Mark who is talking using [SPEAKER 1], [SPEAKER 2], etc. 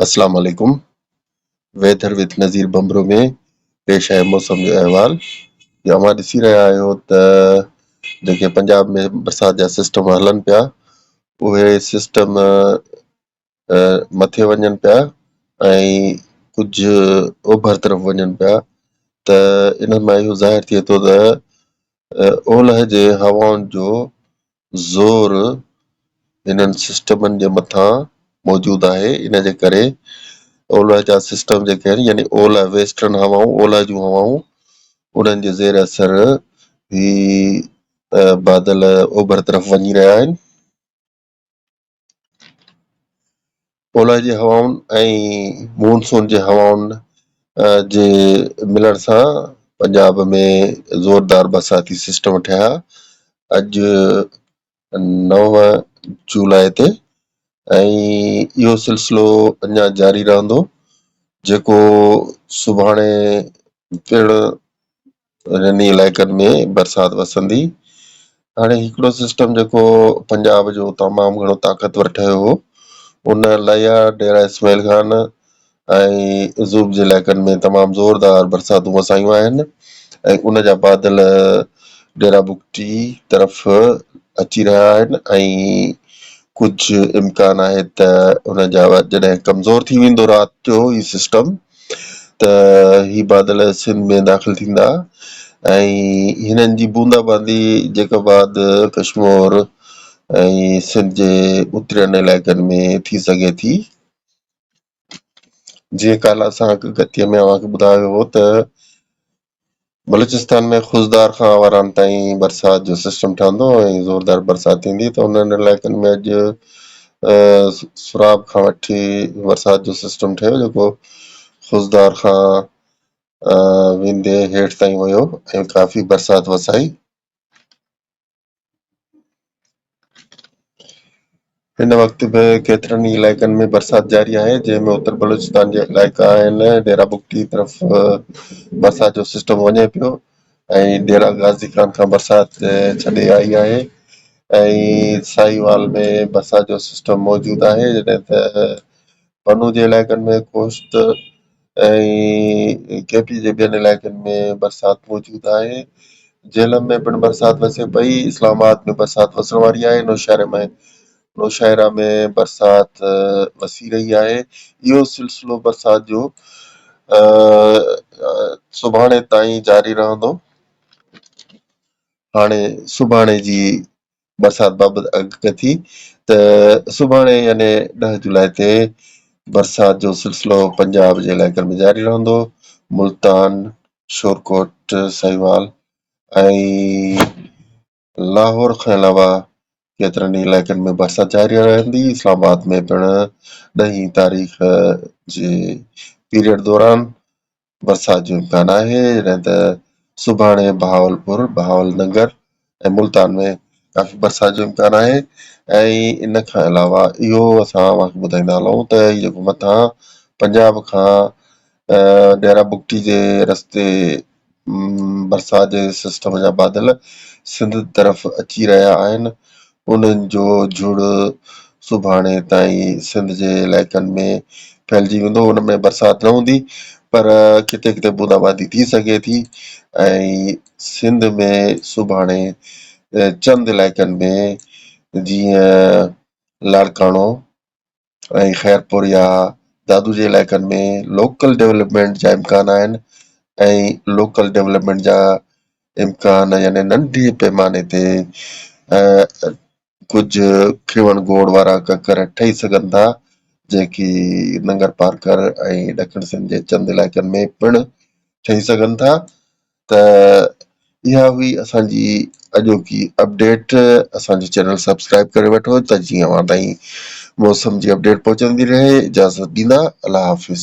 [SPEAKER 1] اسلام عليڪم weather with Nazir Bambro ۾ پيش آيل موسم جو احوال جو اوهان ڏسي رهيا آهيو ته جيڪي پنجاب ۾ برسات جا سسٽم هلن پيا اهي سسٽم مٿي وڃن پيا ۽ ڪجهه اوڀر طرف وڃن پيا ته انهن مان اهو ظاهر ٿئي ٿو ته اولهه جي هوائن جو زور انهن سسٽمن جي مٿان موجود آهي ان جي ڪري اولهه جا سسٽم جيڪي آهن يعني اولهه ويسٽرن هوائون اولهه جون هوائون انهن جي زير اثر هي بادل اوڀر طرف وڃي رهيا آهن اولهه جي هوائن ۽ مون سون جي هوائن جي ملڻ سان پنجاب ۾ زوردار برساتي سسٽم ٺهيا اڄ نو جولاء تي ۽ اهو سلسلو اڃا جاري رهندو جيڪو سڀاڻي پڻ انهن ئي علائقن ۾ برسات وسندي. هاڻي هڪڙو سسٽم جيڪو پنجاب جو تمام گهڻو طاقتور ٺهيو هو، ان ليا، ڊيرا اسماعيل خان ۽ زوب جي علائقن ۾ تمام زوردار برساتون وسايون آهن ۽ ان جا بادل ڊيرا بگٽي طرف اچي رهيا آهن ۽ ڪجهه امڪان آهي ته ان جا جڏهن ڪمزور ٿي ويندو رات جو هي سسٽم ته هي بادل سنڌ ۾ داخل ٿيندا ۽ هنن جي بوندا باندي جيڪا بعد ڪشمور ۽ سنڌ جي اترين علائقن ۾ ٿي سگهي ٿي. جيئن ڪالهه اسان هڪ گتيء ۾ اوهان کي ٻڌايو هو ته بلوچستان ۾ خضدار کان آواران تائين برسات جو سسٽم ٺهندو ۽ زوردار برسات ٿيندي ته انهن علائقن ۾ اڄ سراب کان وٺي برسات جو سسٽم ٺهيو جيڪو خضدار کان ويندي هيٺ تائين ويو ۽ ڪافي برسات وسائي هن وقت به ڪيترن ئي علائقن ۾ برسات جاري آهي جنهن ۾ اتر بلوچستان جا علائقا آهن ڊيرا بگٽي طرف برسات جو سسٽم وڃي پيو ۽ ڊيرا غازي خان کان برسات ڇڏي آئي آهي ۽ ساهيوال ۾ برسات جو سسٽم موجود آهي جڏهن ته بنو جي علائقن ۾ خوست ۽ ڪي پي جي ٻين علائقن ۾ برسات موجود آهي، جهلم ۾ پڻ برسات وسي پئي، اسلام آباد ۾ برسات وسڻ واري آهي، نوشهره ۾ نوشاهره ۾ برسات وسي رهي آهي، اهو سلسلو برسات جو سڀاڻي تائين جاري رهندو، هاڻي سڀاڻي جي برسات بابت اڳڪٿي ٿي ته سڀاڻي يعني ڏهه جولاء تي برسات جو سلسلو پنجاب جي علائقن ۾ جاري رهندو، ملتان، شورڪوٽ، ساهيوال ۽ لاهور کان علاوه ڪيترن ئي علائقن ۾ برسات جاري رهندي، اسلام آباد ۾ پڻ ڏهين تاريخ جي پيريڊ دوران برسات جو امڪان آهي جڏهن ته سڀاڻي بهاولپور، بهاول ننگر ۽ ملتان ۾ ڪافي برسات جو امڪان آهي ۽ ان کان علاوه اهو اسان اوهانکي ٻڌائيندا هلون ته هي جيڪو مٿان پنجاب کان ڏيرا بگٽي جي رستي برسات جي سسٽم جا بادل سنڌ طرف اچي رهيا آهن انهن جو جھڙ سڀاڻي تائين سنڌ جي علائقن ۾ ڦهلجي ويندو، ان ۾ برسات نه هوندي پر ڪٿي ڪٿي بونداباندي ٿي سگهي ٿي ۽ سنڌ ۾ سڀاڻي چند علائقن ۾ جيئن لاڙڪاڻو، ۽ خيرپور يا دادو جي علائقن ۾ لوڪل ڊولپمينٽ جا امڪان آهن ۽ لوڪل ڊولپمينٽ جا امڪان يعني ننڍي پيماني تي ڪجهه کيوڻ گوڙ وارا ڪڪر ٺهي سگهن ٿا جيڪي ننگر پارڪر ۽ ڏکڻ سنڌ جي چند علائقن ۾ پڻ ٺهي سگهن ٿا ته اها هئي اسان جي اڄوڪي اپڊيٽ اسان جو چينل سبسڪرائب ڪري وٺو ته جيئن اوهان تائين موسم جي اپڊيٽ پهچندي رهي اجازت ڏيندا الله حافظ